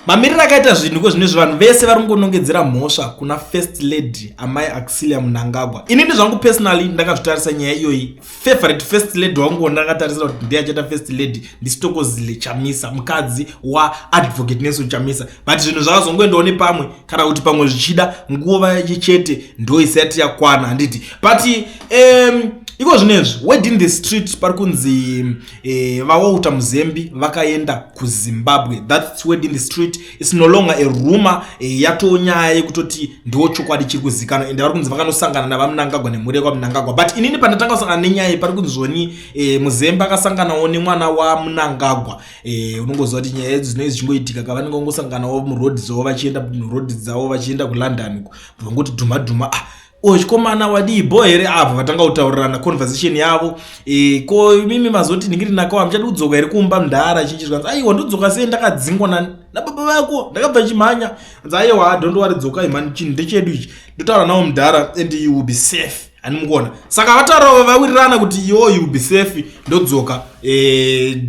Mamiriro akaita zvinhu ko zvino izvi vanhu vese vari kungonongedzera mhosva kuna first lady amai Auxilia Mnangagwa. Ini ndizvangu personally ndakazvitarisa nyaya iyoyi. Favorite first lady wangu wandakatarisira kuti ndiye achaita first lady ndiStokozile Chamisa, mukadzi waAdvocate Nelson Chamisa. But zvinhu zvakazongoendawo nepamwe kana kuti pamwe zvichida nguva chete ndoisati yakwana handiti. But um, iko zvinezvi word in the street pari kunzi eh, vawalter muzembi vakaenda kuzimbabwe thats word in the street its no longer a rumor eh, yatoo nyaya yekutoti ndiwo chokwadi chiri kuzikanwa ende vari kunzi vakanosangana navamunangagwa nemhuri yekwamunangagwa but inini pandatanga kusangana nenyaya iyi pari kunzoni eh, muzembi akasanganawo nemwana wamunangagwa eh, unongoziva kuti nyaya edzo dzinoi dzichingoitika ka vanenge vangosanganawo muroad dzavo vachienda muroad dzavo vachienda kulondon uko vangoti dhuma dhuma ah, Uyo chikomana wadii bho here avo vatanga kutaurirana conversation yavo e, ko mimi mazoti ndingiri nako hamuchadi kudzoka here kumba mdhara achinji zvikanzi aiwa ndodzoka sei ndakadzingwa na, nababa vako ndakabva chimhanya anzi aiwa adhondo wari dzokai mhani chinhu ndechedu ichi ndotaura nawo mdhara and you will be safe ani mukuona saka vataura vawirirana kuti yo you will be safe ndodzoka e,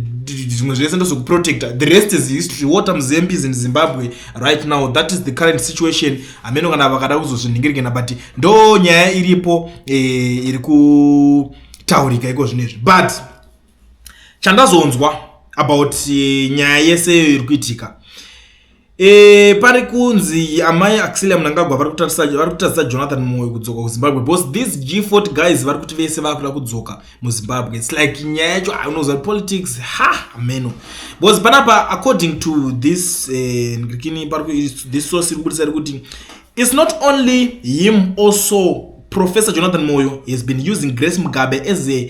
zvimwe zvese ndozokuprotecta the rest is history water muzambies in zimbabwe right now that is the current situation hameno kana vakada kuzozvinhingirikana but ndo nyaya iripo e, iri kutaurika iko zvino izvi but chandazonzwa about e, nyaya yese iyo iri kuitika e, pari kunzi amai axilia munangagwa vari kutatisa jonathan moyo kudzoka kuzimbabwe because these g fort guys vari kuti vese vakuda kudzoka muzimbabwe its like nyaya yacho unoziva politics ha hameno because panapa according to this eh, ndikini this source iri kubudisa rekuti its not only him also professor jonathan moyo has been using grace mugabe as a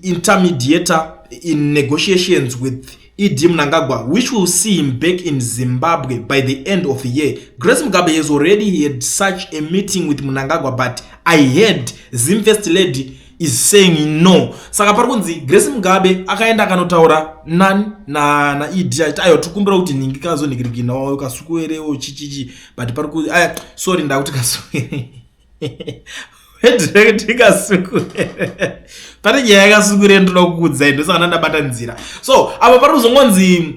intermediator in negotiations with ED Mnangagwa which will see him back in Zimbabwe by the end of the year. Grace Mugabe has already had such a meeting with Mnangagwa but I heard Zim First Lady is saying no. Saka pari kunzi Grace Mugabe akaenda akanotaura nani na na ED achiti ayo tikumbira kuti ningi kazo nikirikina wayo kasukuerewo chichichi but pari kuti aya sorry ndakuti kasukuerewo ndikasukure pane nyaya yakasukure ndinoda kukuudzai ndosakana ndabata nzira so apa pari kuzongonzi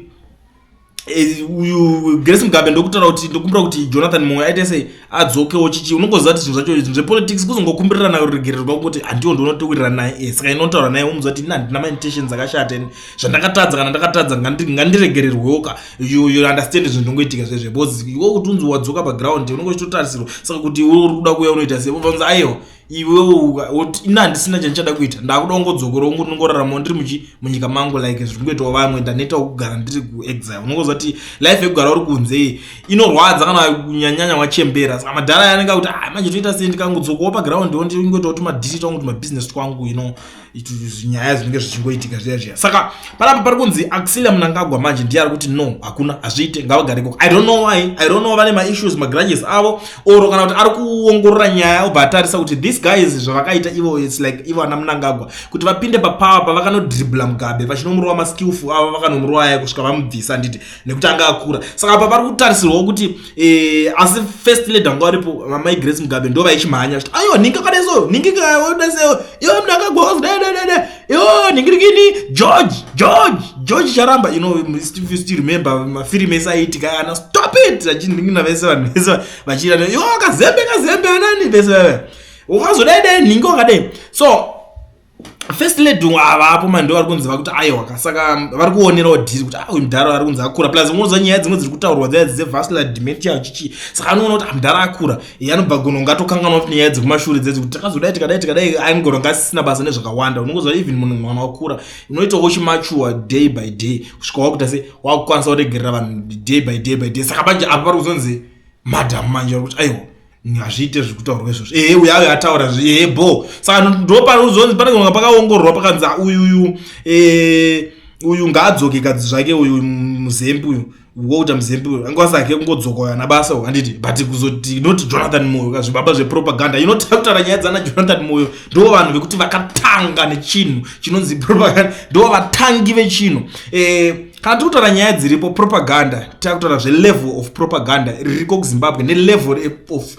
eh, uyu grace mugabe ndokutaura kuti ndokumbira kuti jonathan moyo aite sei adzokewo chichi unongoziva kuti zvinhu zvacho zvepolitics kuzongokumbirirana kuregererwa kuti handiwo ndinotowirirana naye eh, saka inotaura naye umuziva kuti ini handina maintentions akashata ini zvandakatadza kana ndakatadza ngandiregererwewo ka you understand zvinhu ndongoitika zvezve bcause iwe kuti unzi wadzoka paground unenge uchitotarisirwa saka kuti iwe uri kuda kuuya unoita sei vanzi aiwa iwe ina handisina chandichada kuita ndakuda ungodzokora ungu ndingoraramawo ndiri muchi munyika mangu like zviri kungoitawo vamwe ndanetawo kugara ndiri kuexile unongoziva kuti life yekugara uri kunze iyi inorwadza kana kunyanyanya wachembera saka madhara yanenge kuti ah, manje toita sei ndikangodzokawo paground wo ndingoitawo timadhiti tangu kuti mabusiness twangu you know nyaya zvinenge zvichingoitika zviya zviya saka panapa pari kunzi axilia munangagwa manje ndiye ari kuti no hakuna hazviite ngavagare koko i don't know why i don't know vane maissues magrudges avo or kana kuti ari kuongorora nyaya obva atarisa kuti this guys zvavakaita ivo its like ivo ana munangagwa kuti vapinde papower pavakanodribla mugabe vachinomurova maskillful avo vakanomurovaya kusvika vamubvisa handiti nekuti anga akura saka apa pari kutarisirwawo kuti eh, asi first lady vanga varipo vamai grace mugabe ndo vaichimhanya chiti ayo nhingi kadaisoyo nhingi kadaisoyo iyo mnhu akagwaozi dededede iyo nhingirikini george george george charamba you know if still remember mafirimu ese aiitika ana stop it achinhingina vese vanhu vese vachiita yo kazembe kazembe anani vese veve ukazodaidai nhingi wakadai so first lady avapo mani ndo vari kunzi vakuti aiwa kasaka vari kuonerawo dhiri kuti ah, uyu mdhara ari kunzi akura plus unoza nyaya dzimwe dziri kutaurwa dzaya dzevascular dementia uchichi saka anoona kuti ah, mdhara akura iye anobva gono ngatokanganwa kuti nyaya dzekumashure dzedzi kuti takazodai tikadai tikadai angono ngasisina basa nezvakawanda unongoziva even munhu mwana wakura unoitawo uchimachuwa day by day kusvika wakuita se wakukwanisa kuregerera vanhu day by day by day saka manje apa pari kuzonzi madham manje vari kuti aiwa hazviite zviri kutaurwa izvozvo ehe uya ayo ataura ehe bho saka ndopanozonzi pane kunga pakaongororwa pakanzi ah, uyu uyu eh, uyu ngaadzoke kadzi zvake uyu muzembi uyu wokuita muzembi uyu anga wasake kungodzoka uyo ana basa handiti but kuzoti not jonathan moyo ka zvibaba zvepropaganda inotakutara nyaya dzana jonathan moyo ndo vanhu vekuti vakatanga nechinhu chinonzi propaganda ndo vatangi vechinhu eh, kana tiri kutaura nyaya dziripo propaganda takutaura zvelevel of propaganda ririko kuzimbabwe nelevel of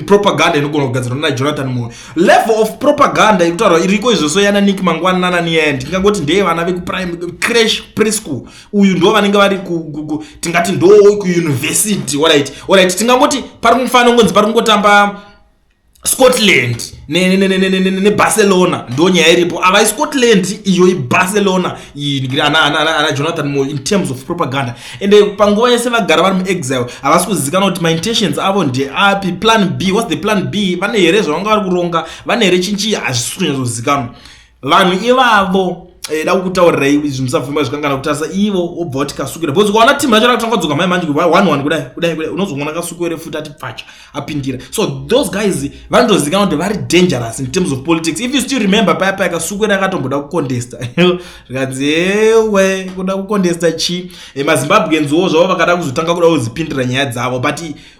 propaganda inogona kugadzirwa nana jonathan moyo level of propaganda ikutaurwa iriko izvoso yana nik mangwana nanani yaya ndingangoti ndeye vana vekuprime crash preschool uyu ndo vanenge vari tingati ndo kuuniversity orit orit tingangoti pari kumufanira kungonzi pari kungotamba scotland nebarcelona ne, ne, ne, ne, ne ndo nyaya iripo avai scotland iyo ibarcelona ana jonathan mo in terms of propaganda and eh, panguva yese vagara vari muexile havasi kuzivikana kuti maintentions avo ndeapi plan b whats the plan b vane here zvavanga vari kuronga vane here chinchii hazvisi kunyatsozivikanwa vanhu ivavo eh, da kutaurira iwe izvi musabvumba zvikangana kutarisa ivo wobva wati kasukira because ukaona timu yacho rakutanga kudzoka mai manje kuva one one kudai kudai kudai unozoona kasukuere futi ati pfacha apindira so those guys vanotozikana kuti vari dangerous in terms of politics if you still remember paya paya kasukuere akatomboda kukondesta zvikanzi ewe kuda kukondesta chi eh, mazimbabweans wo zvavo vakada kuzotanga kuda kuzipindira nyaya dzavo but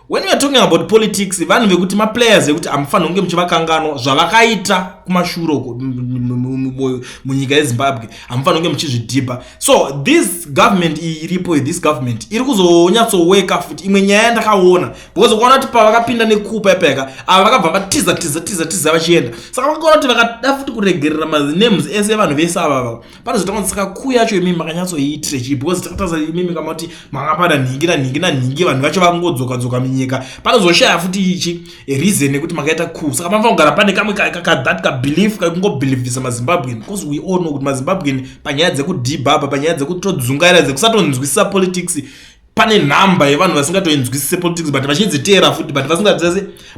When we are talking about politics vanhu vekuti maplayers ekuti amufanira kunge muchivakanganwa zvavakaita kumashure uko munyika yezimbabwe hamufanira kunge muchizvidhibha so this government iyi iripo this government iri kuzonyatsoweka futi imwe nyaya yandakaona because ukaona kuti pavakapinda nekupa ipayaka ava vakabva vatiza tiza tiza tiza vachienda saka vakaona kuti vakada futi kuregerera manames ese evanhu vese avava panozotanga kuti saka kuu yacho imi makanyatsoiitire chii because takataza imimi kama kuti manga pada nhingi nanhingi nanhingi vanhu vacho vangodzoka dzoka munyika panozoshaya futi ichi reason yekuti makaita kuu saka panofanira kugara pane kamwe kathat kabelief kakungobelievisa mazimbabwean because we all know kuti mazimbabwean panyaya dzekudhibhaba panyaya dzekutodzungaira dzekusatonzwisisa politics pane nhamba yevanhu vasingatoinzwisise politics but vachidziteera futi but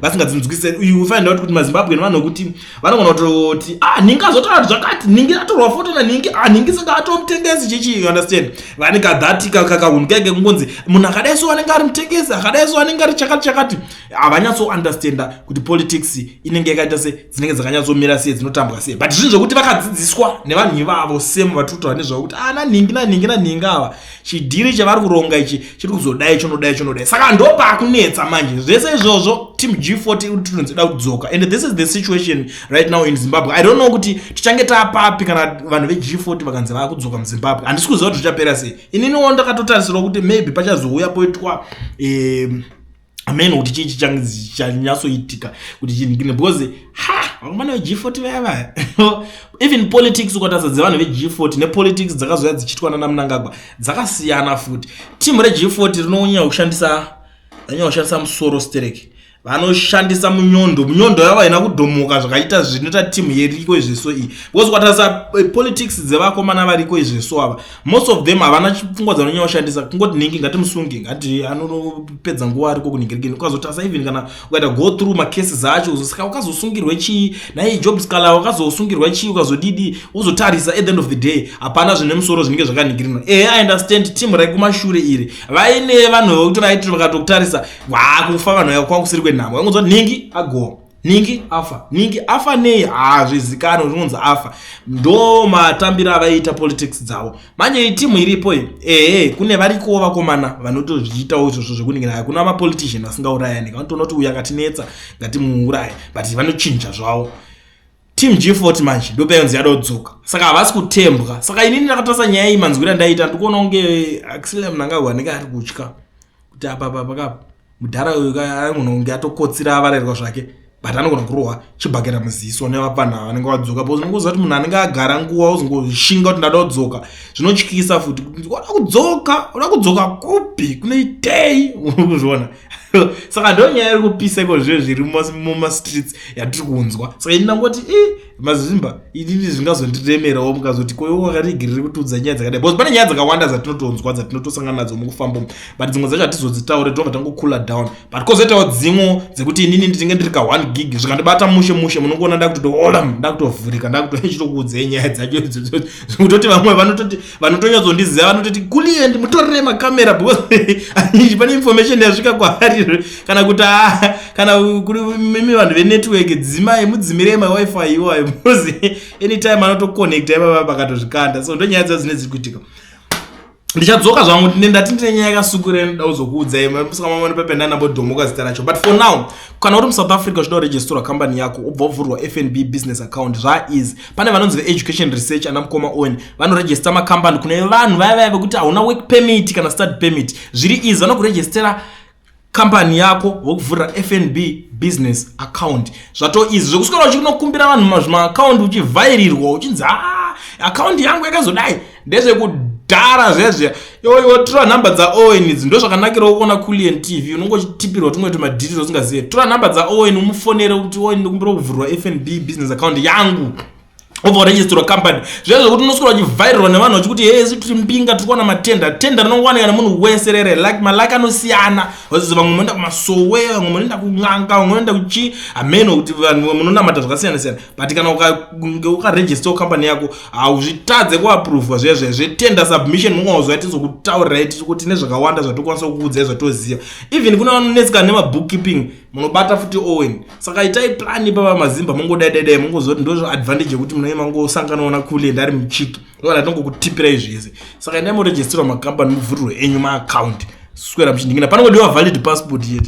vasingadzinzwisise you find out kuti mazimbabwe nevanhu vekuti vanogona kutoti ah ningi azotaura zvakati ningi atorwa foto naningi ah ningi saka atomutengesi chichi you understand vane kadhati kakahunhu kaike kungonzi munhu akadai so anenge ari mutengesi akadai so anenge ari chakati chakati havanyatso understanda kuti politics inenge yakaita se dzinenge dzakanyatsomira sei dzinotambwa sei but zvinhu zvekuti vakadzidziswa nevanhu ivavo same vatotova nezvavo kuti ah naningi naningi naningi ava chidhiri chavari kuronga ichi chiri kuzodai chonodai chonodai saka ndopaakunetsa manje zvese izvozvo team g40 tinozoda kudzoka and this is the situation right now in zimbabwe i don't know kuti tichange taapapi kana vanhu veg40 vakanzi vava kudzoka muzimbabwe handisi kuziva kuti zvichapera sei ininiwo ndakatotarisirwa kuti maybe pachazouya poitwa um, amene kuti chii chichange chichanyatsoitika kuti chinhikine because ha vakomana veg40 vaya vaya even politics ukatarisa dzevanhu veg40 nepolitics dzakazouya dzichiitwa nana munangagwa dzakasiyana futi team reg40 rinonyanya kushandisa anyanya kushandisa musoro stereki vanoshandisa munyondo munyondo yavo haina kudhomoka zvakaita zvinoita timu yeriko izveso iyi because kwatarisa eh, politics dzevakomana variko izveso ava most of them havana pfungwa dzavanonyanya kushandisa kungoti ningi ngatimusunge ngati anopedza nguva ariko kuningirigini ukazotasa even kana ukaita go through macases acho uzosaka ukazosungirwe chii naye job scala wakazosungirwa chii ukazodidi uzotarisa at the end of the day hapana zvine musoro zvinenge zvakaningirina ehe i understand team raikumashure iri vaine vanhu vekuti vaitoti vakatokutarisa waakufa vanhu vaya kwakusiri kwenhamo vangonzwa ningi agoa nhingi afa nhingi afa nei hazvizikanwe zvinonzi afa ndo matambiro avaiita politics dzavo manje itimu iripo iyo ehe kune varikowo vakomana vanotozviitawo izvozvo zvekuningira hakuna mapolitician asingaurayani vanotoona kuti uyu akatinetsa ngatimuuraye but vanochinja zvavo team g40 manje ndopayonzi yadodzoka saka havasi kutembwa saka inini ndakatasa nyaya iyi manzwira ndaiita ndikuona kunge axile mnangagwa anenge ari kutya kuti apa apa pakapa mudhara uyu anogona kunge atokotsira avarairwa zvake but anogona kurohwa chibhakera muziso nevapfanha ava vanenge vadzoka because unenge uziva kuti munhu anenge agara nguva uzongoshinga kuti ndada kudzoka zvinotyisa futi oda kudzoka oda kudzoka kupi kunoitei unokuzviona saka ndo nyaya iri kupisa iko zviyo zviri mumastreets yatiri kunzwa saka ini ndangoti i mazimba inini zvingazondiremerawo mukazoti koyo wakaregerere kutiudza nyaya dzakadai bcause pane nyaya dzakawanda dzatinotonzwa dzatinotosangana nadzo mukufambamo but dzimwe dzacho hatizodzitaure tinobva tangocoola down but kozoitawo dzimwe dzekuti inini ndichinge ndiri ka one gig zvikandibata mushe mushe munongoona ndakutotohola ndakutovhurika ndakutochitokuudzei nyaya dzacho idzodzodzo zvekutoti vamwe vanototi vanotonyatsoondiziva vanototi kuliendi mutorere makamera because anizhi pane information yasvika kwaari kana kuti ah, kana mimi vanhu venetwork dzimai mudzimirei mawifi iwayo because anytime anotoconnecta ivava pakatozvikanda so ndonyaya dzaa dzine dziri kuitika ndichadzoka zvangu tine ndati ndine nyaya yakasukure ndoda kuzokuudzai musakamamani pependa nambodhomoka zita racho but for now kana uri musouth africa uchida kuregistora kambani yako ubva uvhurwa fnb business account zvaiz pane vanonzi veeducation research ana mukoma owen vanorejista makambani kune vanhu vaya vaya vekuti hauna work permit kana study permit zviri easy vanokurejistera kambani yako vokuvhurira fnb business account zvato easy zvekuswera uchinokumbira vanhu mazvimaakaundi uchivhairirwa uchinzi haa ah, akaundi yangu yakazodai ndezvekudhara zvezve iwoiwo tora nhamba dzaowen idzi ndo zvakanakirawo kuona culien tv unonge uchitipirwa tumwe tumadhiriro usingazive tora nhamba dzaowen umufonere kuti owen ndikumbira kuvhurwa fnb business account yangu obva waregistrwa company zviya zvekuti unoswira uchivhairirwa nevanhu vachikuti hee si tiri mbinga tiri kuwana matenda tenda rinongowanika nemunhu wese rere like malike anosiyana vazizi vamwe munoenda kumasowe vamwe munoenda kun'anga vamwe munoenda kuchi hameno kuti vanhu munonamata zvakasiyana siyana but kana ukange ukaregistawo company yako hauzvitadze kuaprovwa zviya zviya zvetender submission mungaozoya tizokutaurirai tikuti nezvakawanda zvatokwanisa kukuudzai zvatoziva even kune vanonetsika nemabookkeeping munobata futi owen saka itai plan ipava mazimba mungodaidaidae mungozoti ndozvaadvantage yekuti munai mangosanganaona kule ndari muchiki ndoana tongokutypirai zvese saka endai moregisterwa macompany muvhurirwe enyu maaccount swera muchindingina panongodiwa valid passport yete